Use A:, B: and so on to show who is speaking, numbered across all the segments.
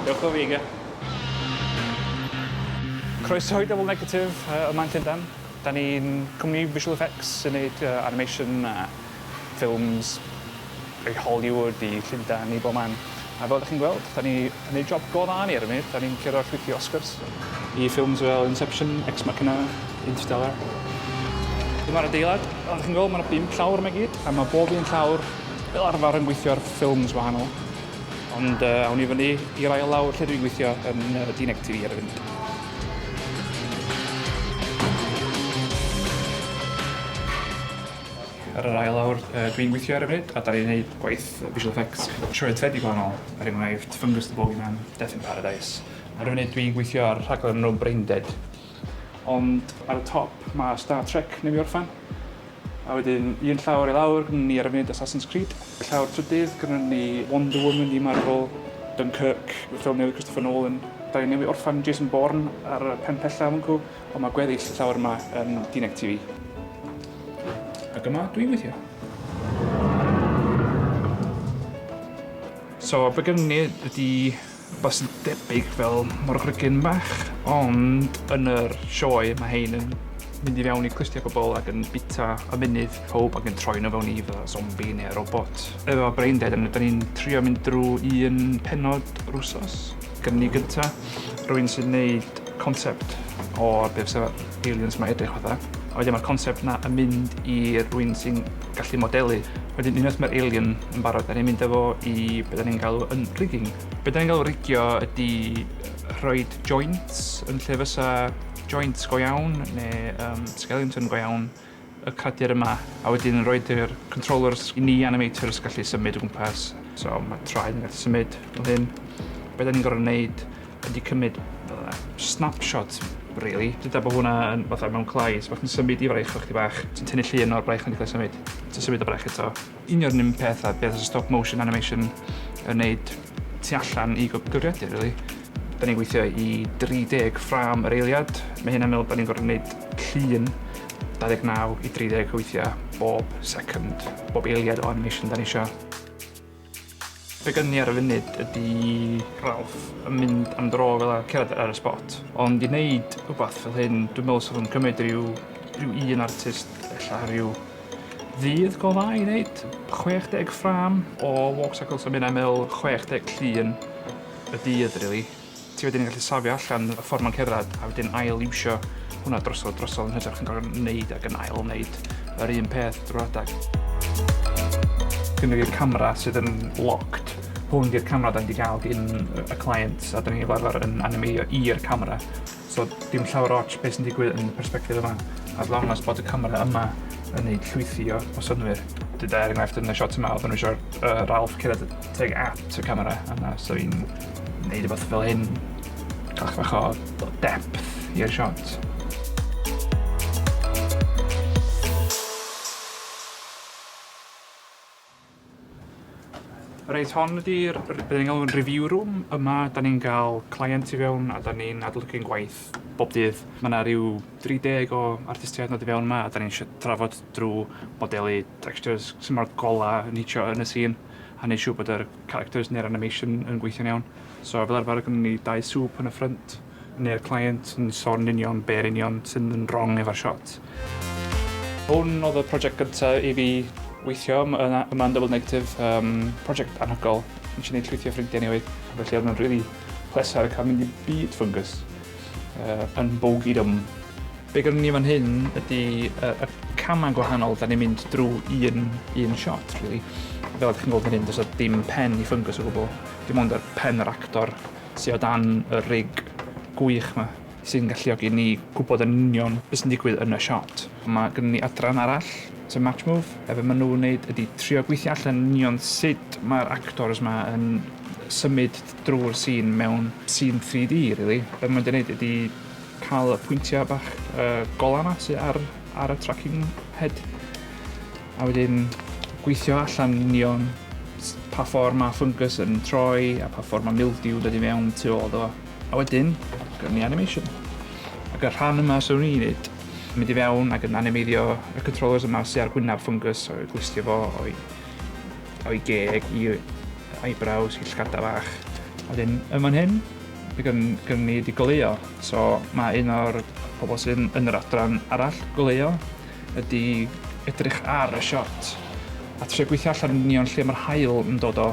A: Dewch o figa. Croeso i Double Negative uh, yma yn Llundain. Da ni'n cwmni visual effects sy'n neud uh, animation a ffilms i Hollywood, i Llundain, i bob man. A fel ydych chi'n gweld, da ni Yn ei job go dda ni ar y funud, dan ni'n curo a chwythu Oscars i ffilms fel Inception, Ex Machina, Interstellar. Dyma'r adeilad. Fel dych chi'n gweld, mae yna bum llawr yma i gyd, a mae bob un llawr fel arfer yn gweithio ar ffilms wahanol. Ond uh, awn ni fyny i'r ail lawr lle dwi'n gweithio yn uh, Dineg TV ar y funud. Ar yr ail awr, dwi'n gweithio ar y funud a da ni'n gwneud gwaith visual effects trwy y tedi gwahanol, er enghraifft Fungus the Bogeyman, Death in Paradise. Ar y funud dwi'n gweithio ar rhaglen enw Braindead. Ond ar y top mae Star Trek newydd orffen. A wedyn un llawr i lawr gynnon ni ar y funud Assassin's Creed, y llawr trydydd gynnon ni Wonder Woman i Marvel, Dunkirk, y ffilm newydd Christopher Nolan. Da ni'n newydd orffen Jason Bourne ar y pen pella, mwncw. Ond mae gweddill y llawr yma yn dinec ti fi. Ac yma dwi weithio. So, be gen ni ydy rhywbeth sy'n debyg fel morgrygyn bach, ond yn yr sioe mae hein yn mynd i fewn i clustiau pobl ac yn bita a munud pob ac yn troi nhw fewn i fatha zombi neu robot. Efo Brain Dead, da ni'n trio mynd drwy un penod rwsos. Gen ni gynta, rwy'n sy'n neud concept o be fysa aliens 'ma edrych fatha a wedyn ma'r concept 'na yn mynd i rywun sy'n gallu modelu wedyn unwaith ma'r alien yn barod 'dan ni'n mynd â fo i be' 'dan ni'n galw yn rigging. Be' 'dan ni'n galw rigio ydi rhoid joints yn lle fysa joints go iawn ne' yym skeleton go iawn y cradur yma a wedyn yn rhoid yr controllers i ni animators gallu symud o gwmpas. So mae traed yn gallu symud fel hyn. Be da ni'n gorfod wneud ydy cymryd uh, snapshot, really. Dyda bod hwnna yn fatha mewn clai, so bach yn symud i fraich o'ch ti bach. Ti'n tynnu llun o'r braich yn cael symud. Ti'n symud o braich eto. Un o'r un peth a beth stop motion animation yn wneud tu allan i gyfrifiadur rili. Da ni'n gweithio i 30 ffrâm yr eiliad, mae hynna'n meddwl bod ni'n gorfod gwneud llun 29 i 30 o weithiau bob second, bob eiliad o animation da ni isio. Be gynni ar y funud ydi Ralph yn mynd am dro fel a cerdded ar y spot ond i neud wbath fel hyn dwi me'wl sa fo'n cymyd ryw ryw un artist ella ryw ddydd go dda i neud chwech deg ffrâm o walk cycle so ma' ynna'n me'wl chwech deg llun y dydd rili. ti wedyn yn gallu safio allan y ffordd mae'n cerdded a wedyn ail iwsio hwnna drosodd drosodd yn hytrach yn gorfod wneud ac yn ail wneud yr un peth drwy adeg. Gynnu i'r camera sydd yn locked hwn di'r camera da ni wedi cael gin y client a da ni'n fel arfer yn animeiddio i'r camera. So dim llawer ots beth sy'n digwydd yn y perspective yma, as long as bod y camera yma yn neud llwythi o, o synwyr. Dyda er enghraifft yn y shot yma, oedd nhw eisiau uh, Ralph cyrraedd teg at y camera yna, so i'n neud rhywbeth fel hyn, cael bach o depth i'r shot. Reit, hon ydy'r, beth ni'n galw'n review room. Yma, da ni'n cael client i fewn a da ni'n adolygu'n gwaith bob dydd. Mae yna rhyw 30 o artistiaid yn dod i fewn yma a da ni'n trafod drwy modelu textures sy'n mor gola yn hitio yn y scene a wneud siŵr bod yr characters neu'r animation yn gweithio'n iawn. So fel arfer gynnon ni dau sŵp yn y ffrynt Neu'r client yn sôn yn union be yn union sydd yn wrong efo'r shot. Hwn oedd y project gyntaf i fi weithio yma yn Double Negative, um, project anhygol. Nes i wneud llwythi o ffrindiau newydd, felly oedd nhw'n rili really pleser cael mynd i byd fungus uh, yn bogey dwm. Be gynnu ni fan hyn ydy uh, y camau gwahanol da ni'n mynd drwy un, un shot, really. Fel ydych chi'n gweld fan hyn, does dim pen i fungus o gwbl. Dim ond y pen yr actor sy o dan y rig gwych 'ma sy'n galluogi ni gwybod yn union be sy'n digwydd yn y siot. Mae gynnon ni adran arall, sef Matchmove, a be maen nhw'n wneud ydy trio gweithio allan yn union sut mae'r actors 'ma yn symud drwy'r sîn mewn sîn 3D rili. Be maen nhw'n wneud ydy cael y pwyntiau bach golau 'ma sy ar ar y tracking head. a wedyn gweithio allan union s- pa ffor ma' fungus yn troi a pa ffor ma' mildew dod i mewn tu ôl iddo fo. A wedyn gawn ni animation. Ac y rhan yma swn i'n neud, mynd i fewn ac yn animeiddio y controllers yma sy ar gwynab fungus a gwsdio fo o'i o'i geg i eyebrows i llgada fach. A wedyn yn fan hyn by gyn gynno ni 'di goleuo so ma' un o'r pobol sydd yn yr adran arall goleuo ydi edrych ar y siot a trio gweithio allan yn union lle mae'r haul yn dod o,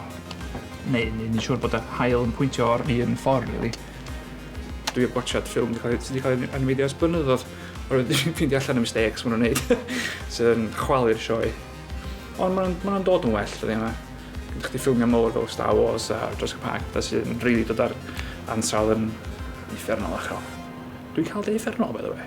A: neu neu ni'n siŵr bod y haul yn pwyntio o'r un ffordd rili. Dwi wedi gwachod ffilm wedi cael ei- sy' 'di cael ei animeiddio ers blynyddoedd oherwydd dwi isio ffeindio allan y mistakes ma' nhw'n neud sy'n chwalu'r sioe. Ond ma' nhw'n ma' nhw'n dod yn well dyddiau yma. Gyda chdi ffilmiau mowr fel Star Wars a Jurassic Park petha sy'n rili dod ar ansawdd yn uffernol uchel. Dwi'n cael dy uffern ol by the way.